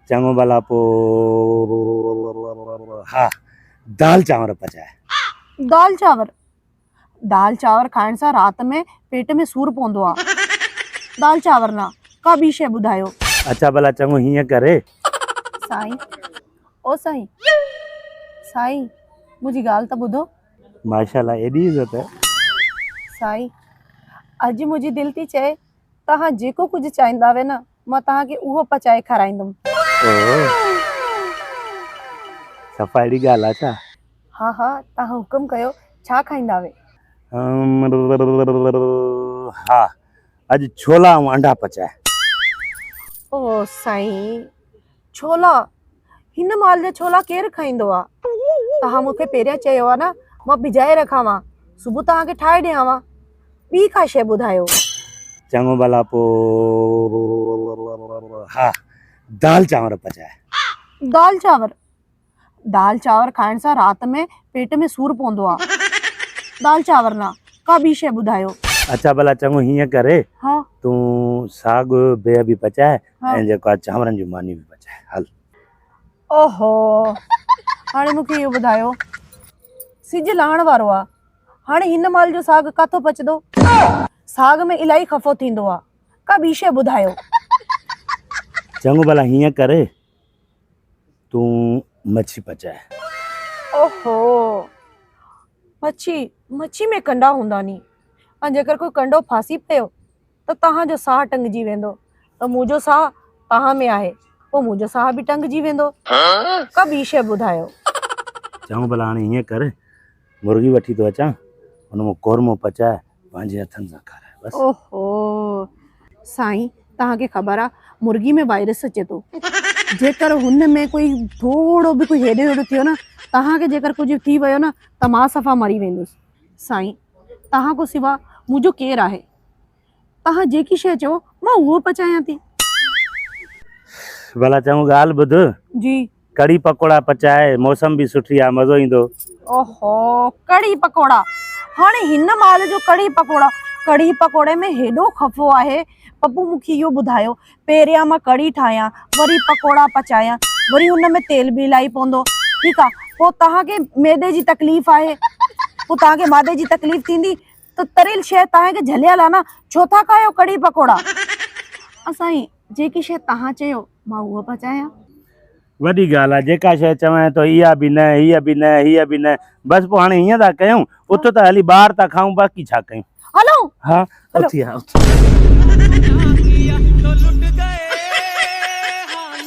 چڱو ڀلا پو ها دال چانور پچاء. دال چانور دال چانور کائڻ سان رات ۾ پيٽ ۾ سور پوندو آ دال چانور نه ڪا ٻي شئي ٻڌايو. اڇا ڀلا چڱو هيئن ڪر. سائين او سائين سائين منهنجي ڳالهه ته ٻڌو. ماشاءالله ايڏي عزت. سائين اڄ منهنجي دل ٿي چئي توهان جيڪو ڪجهه چاهيندا وي نه مان توهان کي اهو پچائي کارائيندم. اوهو صفا اهڙي ڳالهه آهي ڇا؟ ها ها توهان حڪم ڪيو ڇا کائيندا وي؟ ها اڄ ڇولا ۽ انڊا پچاء. اوهو سائين. ڇولا هن مال جا ڇولا ڪير کائيندو آ توهان مون کي پهريان چيو آ نه مان بجائي رکانوان صبح توهان کي ٺاهي ڏيانوان ٻي ڪا شيء ٻڌايو. چڱو ڀلا پو ها دال چانور پچاء. دال چانور. دال چانور کائڻ سان رات ۾ پيٽ ۾ سور پوندو آ دال چانور نه ڪا ٻي شئي ٻڌايو. اڇا ڀلا چڱو هيئن ڪر ها. تون ساڳ بيهه به پچاء ها. ۽ جيڪو آ چانورن جون مانيون به پچاء هل. اوهو هاڻي مون کي اهو ٻڌايو سج لهڻ وارو آ هاڻي هن مال جو ساڳ ڪاٿو پچدو ساڳ ۾ الائي خفو ٿيندو آ ڪا ٻي شئي ٻڌايو. چڱو ڀلا هيئن ڪر تون مڇي پچائي. اوهو! مڇي، مڇي ۾ ڪنڊا هوندا ني ۽ جيڪر ڪوئي ڪنڊو ڦاسي پيو ته توهان جو ساهه ٽنگجي ويندو ته مون جو ساهه توهان ۾ آهي پوء مون جو ساهه به ٽنگجي ويندو. ڪا ٻي شيء ٻڌايو. چئون ڀلا هاڻي هيئن ڪر. مرغي وٺي ٿو اچان ان مان قورمو پچائي پنهنجي هٿن سان کارائي بس. اوهو سائين توهان کي خبر آ مرغي ۾ وائرس اچي ٿو جيڪر هن ۾ ڪوئي ٿورو به ڪوئي هيڏو هيڏو ٿيو نه توهان کي جيڪر ڪجهه ٿي ويو نه ته مان صفا مري ويندس سائين توهان کان سوا منهنجو ڪير آهي. توهان جيڪي شيء چئو، مان اهو پچايان ٿي. ڀلا چڱو ڳالهه ٻڌ. جي. ڪڙهي پڪوڙا پچاء، موسم به سٺي آهي، مزو ايندو. اوهو، ڪڙهي پڪوڙا! هاڻي هن مال جو ڪڙهي پڪوڙا! ڪڙهي پڪوڙي ۾ هيڏو خفو آهي. پپو مون کي اهو ٻڌايو، پهريان مان ڪڙهي ٺاهيان، وري پڪوڙا پچايان، وري ان ۾ تيل به الائي پوندو. ٺيڪ آهي، پوء توهان کي معدي جي تڪليف آهي. پوء توهان کي معدي جي تڪليف ٿيندي، ته تريل شيء توهان کي جهليل آ نه ڇو ٿا کايو ڪڙهي پڪوڙا. ها سائين جيڪي شيء توهان چيو مان اهو پچايان. وڏي ڳالهه آ جيڪا شيء چوانء ته اها به نه هيء به نه هيء به نه بس پوء هاڻي هيئن ٿا ڪيون اٿ ته هلي ٻاهر ٿا کائون باقي ڇا ڪيون. هلون. ها اٿي ها اٿ.